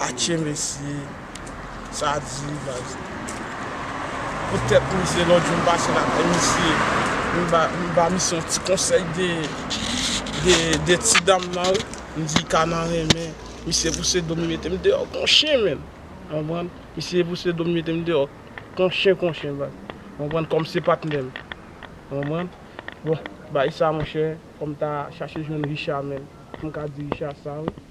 Atchee mesye sa di wi baz. Pou tèt misye lòt jou m pase la kay misye m ba misye yon ti konsèy de ti dam nan wi m di ka nan renmen misye pouse do m li mete m deyò kon chen menm konprann misye pouse do m li mete m deyò kon chen kon chen baz konprann kòm se patnè m konprann bon bagay sa monchè fò m ta chache jwenn Richard menm pou m ka di Richard sa wi.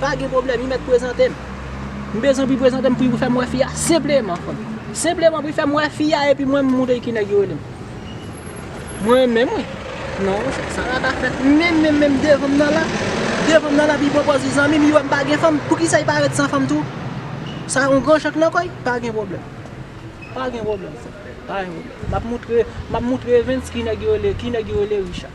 Pa gen pwoblèm, li mèt prezante m. M bezwen pou li prezante m, pou li fè m wè fi a senpleman. Senpleman pou li fè m wè fi a epi mwen m montre li ki nèg yo rele m. Mwen menm wi. Non, sa pa ka fèt. Menm menm menm devan m nan la. Devan m nan la epi li pwopòz li zanmi m, li wè m pa gen fanm. Poukisa li pa ret san fanm tou? Sa yon gran chak nan kò l? Pa gen pwoblèm. Pa gen pwoblèm frè m. Pa gen pwoblèm. M ap montre, m ap montre Evens ki nèg yo rele, ki nèg yo rele Richard.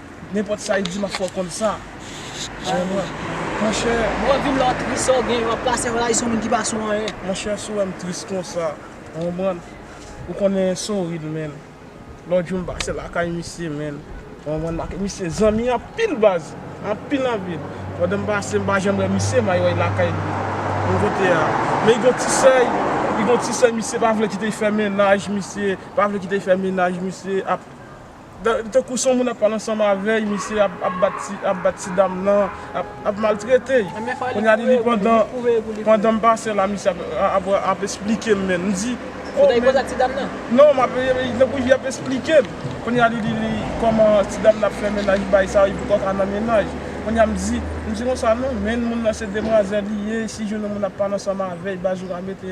Nenpòt sa li di map fè w konn sa Jan nou an Monchè Lè wap vin la wap tris sa w genyen wap plase wè la vi son moun ki pa sou anyen. Monchè si w wèm tris konsa Ou konprann Ou konnen Souril menn Lòt jou m pase lakay misye menn Ou konprann m ak misye zanmi anpil baz Anpil anpil Pandan m pase m pa janm wè misye may wè l lakay li Menm kote a Men li gon ti sèy Li gon ti sèy misye pa vle kite l fè mennaj misye pa vle kite l fè mennaj misye ap. Tankou son moun ap pale ansanm avèy misye ap bat ti dam nan ap maltretey kounya li pandan pandanm pase la misye ap esplikem menm m di oh men non map tankou li ap esplikem kounya li di li kòman ti dam nan ap fè mennaj bay sa li poko ka nan mennaj kounya m di m di konsa non menn moun nan se demwazèl li ye si jwenn yon moun ap pale ansanm avèy baz ou ka mete.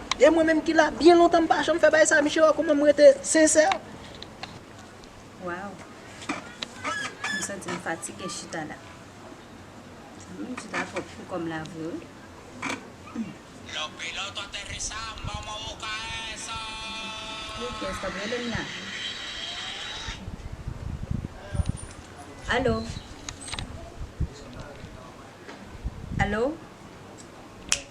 E mwen menm ki la byen lontan m pa janm fè bagay sa Miche wè kouman m rete sincère. Waw m santi m fatige chita la humm chita trop pou kòm la vre wi. Los piloto aterrizan vamos a busca eso. Ok stop relem la. Allo Allo.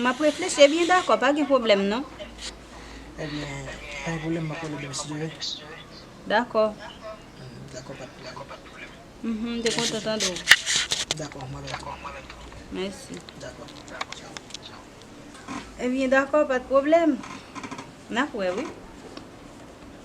M ap reflechi ebyen dakò pa gen pwoblèm non. Dakò. M te kontan tande w. Mèsi. Ebyen dakò pa gen pwoblèm. N ap wè wi.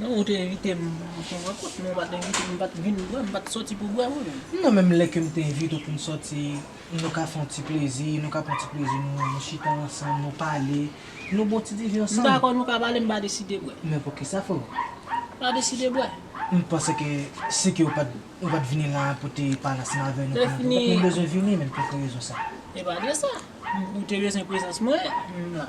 Non ou te envite m pou yon rankont men ou pat envite m, m pat vin bwè, m pat soti pou bwè wi. Non menm lè ke m te envite w pou n soti, nou ka fè yon ti plezi, nou ka pran ti plezi nou, nou chita ansanm, nou pale, nou bon ti diven ansanm. M dakò nou ka pale, m pa deside bwè. Men poukisa freo? M pa deside bwè. M panse ke si ke ou pat ou pat vini la a pou te pale ansanm avè nou kounye a, ou pat menm bezwen vini menm pou ki rezon sa? E pa de sa. Ou te bezwen prezans mwen, m la.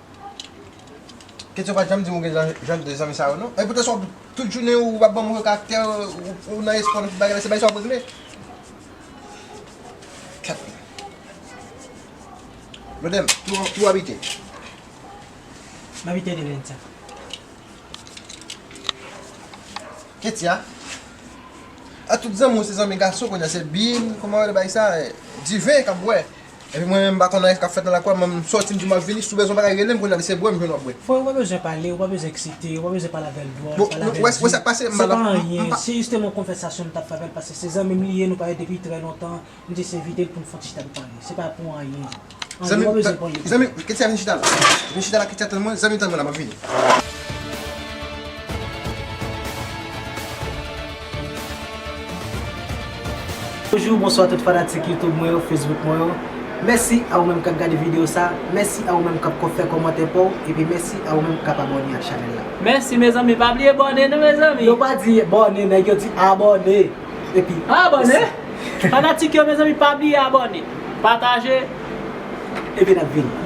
Ketty ou pa janm dim ou gen jan de zanmi sa yo non Epi kesw tout jounen ou ap banm kaktè ou nan espò nan tout bagay se bagay sa wap regle Ket la Blodem ki wap ite Map ite Delenca Ketty a A tout zanmi ou se zanmi gason kounya se bim kòman rele bagay sa Diven kap bwè. Epi mwen menm m pa konn anyen kap fèt nan lakwa m sòti m di map vini si w bezwen bagay rele m kounya li se bwè m jwenn wap bwè. Frè ou pa bezwen pale ou pa bezwen eksite ou pa bezwen pale avèl dwòl pale avèl di se pa anyen se jistem yon konvèsasyon m tap fè avèl paske se zanmi m li ye nou pale depi trè lontan m jis envite l poun fon ti chita nou pale se pa pou anyen anyen ou pa bezwen pran yo pou Ketya vin chita la vin chita la Ketya tann mwen zanmi tann mwen la map vini. Bonjou, bonswa tout fanatik YouTube mwen yo, Facebook mwen yo. Mèsi a ou menm kap gade video sa, mèsi a ou menm kap fè kòmantè paw, epi mèsi a ou menm kap abòne ak chanèl la. Mèsi mezanmi, pa bliye bòne nou mezanmi. Yo pa di bòne nèg yo di abòne epi Abòne! Fanatik yo mezanmi pa bliye abòne, pataje. Epi nap vini.